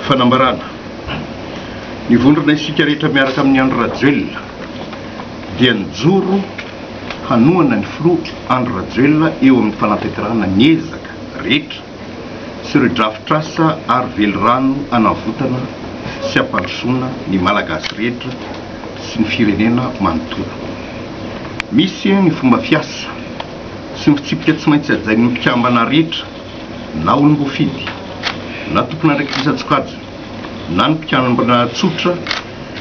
Fanambarana, Ny vondrona Isika Rehetra miaraka amin'i Andry Rajoelina dia nijoro hanohana ny filoha Andry Rajoelina eo amin'ny fanatanterahana ny ezaka rehetra sy ireo drafitr'asa ary velirano hanavotana sy hampandrosoana ny Malagasy rehetra sy ny firenena manontolo. Misy ny fomba fiasa sy ny fitsipika tsy maintsy hajain'ny mpikambana rehetra. na olom-boafidy, na tompon'andraikitran-tsokajy, na ny mpikamabana tsotra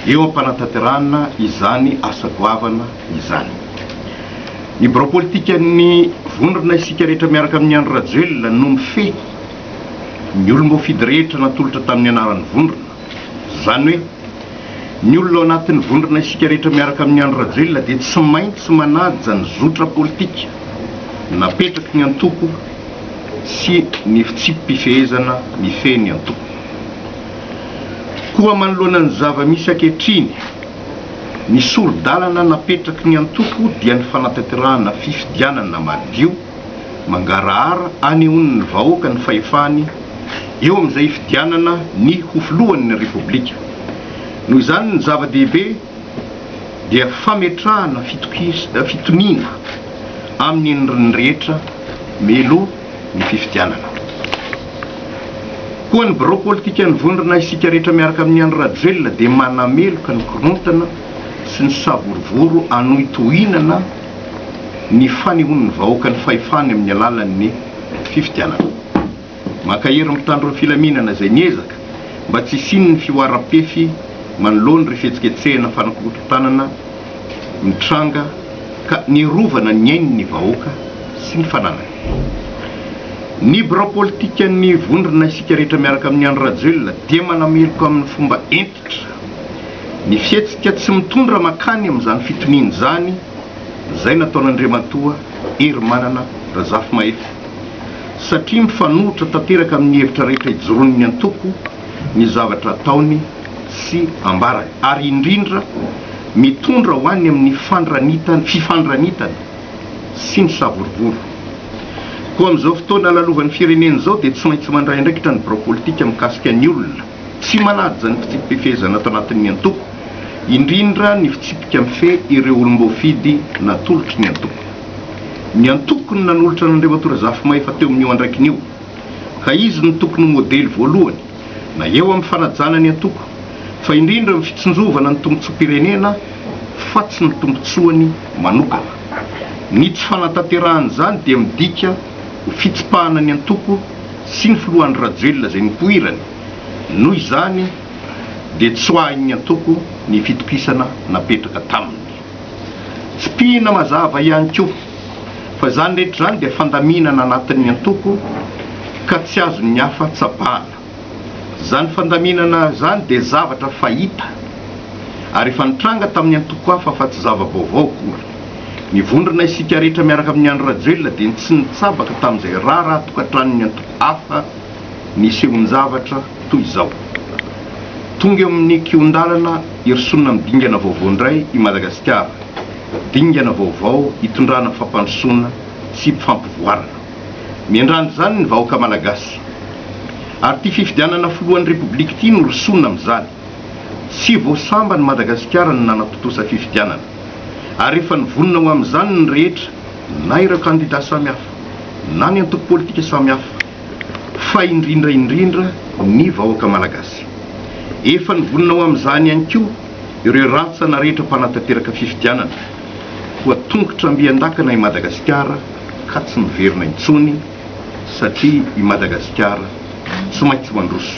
eo am-panatanterahana izany asa goavana izany. Ny birao politikan'ny vondrona Isika Rehetra miaraka amin'i Andry Rajoelina no mifehy ny olom-boafidy rehetra natolotra tamin'ny anaran'ny vondrona. Izany hoe, ny olona ao anatin'ny vondrona Isika Rehetra miaraka amin'i Andry Rajoelina dia tsy maintsy manaja ny zotra politika napetraky ny antoko sy ny fitsipi-pifehezana mifehy ny antoko. Koa manoloana ny zava-misy ankehitriny, ny sori-dalana napetraky ny antoko dia ny fanatanterahana fifidianana madio, mangarahara hanehoan'ny vahoaka ny fahefany eo amin'izay hifidianana ny ho filohan'ny Repoblika. Noho izany ny zava-dehibe dia fametrahana fitoniana amin'ny endriny rehetra melo ny fifidianana. Koa ny birao politikan'ny vondrona Isika Rehetra miaraka amin'i Andry Rajoelina dia manameloka ny korontana sy ny savorovoro hanohitohinana ny fanehoan'ny vahoaka ny fahefany amin'ny alalan'ny fifidianana. Mankahery ny mpitandro ny filaminana izay miezaka mba tsy hisian'ny fihoaram-pefy manoloana ireo fihetsiketsehana fanakorontanana mitranga ka niarovana ny ain'ny vahoaka sy ny fananany. Ny birao politikan'ny Vondrona Isika Rehetra miaraka amin'i Andry Rajoelina dia manameloka amin'ny fomba entiny Fototra. Ny fihetsika tsy mitondra mankany amin'izany fitoniana izany izay nataon'Andriamatoa Herimanana Razafimahefy satria mifanohitra tanteraka amin'ny hevitra rehetra ijoroan'ny antoko ny zavatra ataony sy ambarany ary indrindra mitondra ho any amin'ny fandranitana fifandranitana sy ny savorovoro. Koa amin'izao fotoana lalovan'ny firenena izao dia tsy maintsy mandray andraikitra ny birao politika mikasika ny olona Tsy manaja ny fitsipi-pifehezana ato anatin'ny antoko, indrindra ny fitsipika mifehy ireo olom-boafidy natolotry ny antoko. Ny antoko no nanolotra an'Andriamatoa Razafimahefa teo amin'io andraikiny io, ka izy no tokony ho modely voalohany, na eo amin'ny fanajana ny antoko, fa indrindra amin'ny fitsinjovana ny tombontsoam-pirenena fa tsy ny tombontsoany manokana. Ny tsy fanatanterahan'izany dia midika ho fitsipahana ny antoko, sy ny filoha Andry Rajoelina izay nipoirany, noho izany dia tsoahin'ny antoko ny fitokisana napetraka taminy. Tsipihina mazava ihany koa fa izany rehetra izany dia fandaminana anatin'ny antoko ka tsy azon'ny hafa tsabahana. Izany fandaminana izany dia zavatra fahita ary efa nitranga tamin'ny antoko hafa fa tsy zava-baovao akory. Nivondrona isika rehetra miaraka amin'i Andry Rajoelina dia tsy nitsabaka tamin'izay raharaha tokantranon'ny antoko hafa nisehoan-javatra toy izao. Tonga eo amin'ny kihon-dalana hirosoana amin'ny dingana vaovao indray i Madagasikara, dingana vaovao hitondrana fampandrosoana sy fampivoarana. Miandrandra izany ny vahoaka Malagasy. Ary ity fifidianana filohan'ny Repoblika ity no rosoana amin'izany. Tsy vao samban'i Madagasikara no nanatontosa fifidianana, ary efa nivonona ho amin'izany ny rehetra, na ireo kandidà samihafa, na ny antoko politika samihafa, fa indrindra indrindra ny vahoaka malagasy. Efa nivonona ho amin'izany ihany koa ireo rantsana rehetra mpanatanteraka fifidianana, koa tongotra ambian-dakana i Madagasikara ka tsy miverina intsony, satria i Madagasikara tsy maintsy mandroso.